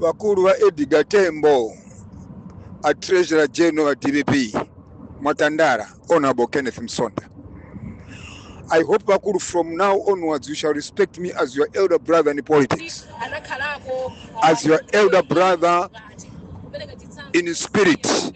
wakulu wa Edgar Tembo a Treasurer General wa DPP Mwatandara Honorable Kenneth Msonda I hope Bakuru, from now onwards, you shall respect me as your elder brother in politics, as your elder brother in spirit.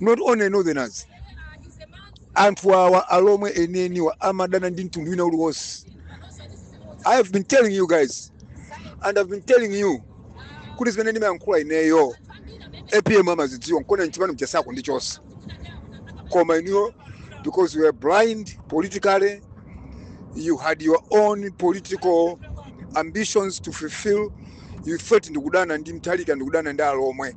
not only northerners anthu awa alomwe enieniwa amadana ndi mtundu wina uliwonse i have been telling you guys and i've been telling you kuti zimene ndimayankhula ineyo apm amazidziwa nkona mchipani mchasako ndi chonse koma inuyo because you were blind politically you had your own political ambitions to fulfill you thought ndikudana ndi mtalika ndikudana ndi alomwe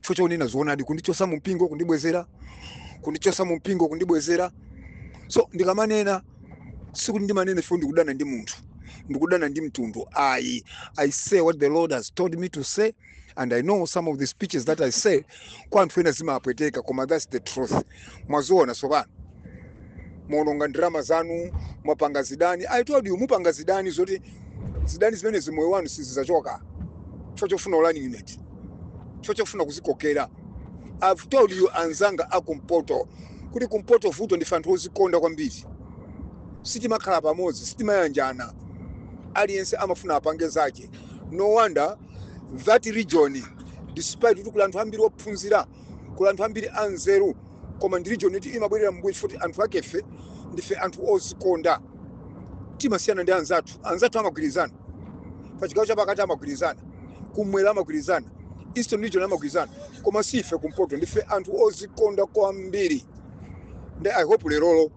chifukwa chonena zoonadi kundichosa mu mpingo kundibwezera kundichosa mu mpingo kundibwezera so ndikamanena sikuti ndimanena chifukwa ndikudana ndi munthu ndikudana ndi mtundu ayi i say what the lord has told me to say and i know some of the speeches that i say kwa anthu ena zimapweteka koma that's the truth mwaziona tsopano mwaononga ndalama zanu mwapanga zidani i told you mupanga zidani zoti zidani zimenezi moyo wanu sizizachoka chifukwa chofuna running mate chifukwa chofuna kuzikokera i've told you anzanga akumpoto kuti kumpoto vuto ndife anthu ozikonda kwambiri sitimakhala pamodzi sitimayanjana aliyense amafuna apange zake no wonder that region despite kuti kuli anthu ambiri ophunzira kuli anthu ambiri anzeru koma ndi region yoti imabwerera mbuyo chifukwa choti anthu akefe ndife anthu ozikonda timasiyana ndi anzathu anzathu amagwirizana pa chigawo chapakati amagwirizana kumwera amagwirizana eastern region amagwirizana koma si ife kumpoto ndife anthu ozikonda kwambiri nde i hope lerolo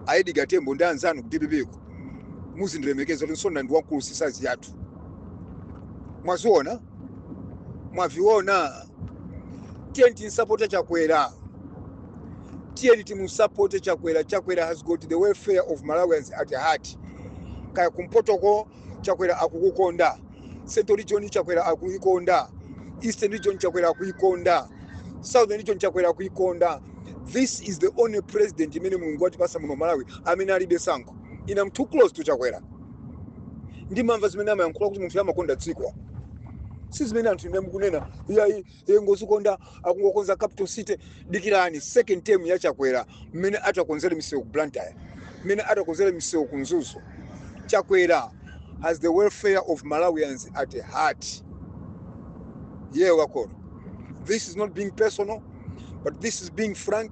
a edgar tembo ndi anzanu ku dpp muzindilemekeza kuti msonda ndi wamkulu si size yathu mwaziona mwaviona tiyeni timusapote chakwera tiyeni timusapote chakwera chakwera has got the welfare of malawians at heart kaya kumpotoko chakwera akukukonda central region chakwera akuikonda eastern region chakwera akuikonda southern region chakwera akuikonda this is the only president imene mulungu watipasa muno malawi amene alibe sankho i'm too close to chakwera ndimamva zimene amayankhula kuti munthuyu amakonda dziko si zimene anthu inu mukunena iyayi iye ngozikonda akungokonza capital city dikirani second term ya chakwera mmene atakonzere misewu ku blantyre mmene atakonzere misewu ku mzuzu chakwera has the welfare of malawians at heart yeye wakoro this is not being personal but this is being frank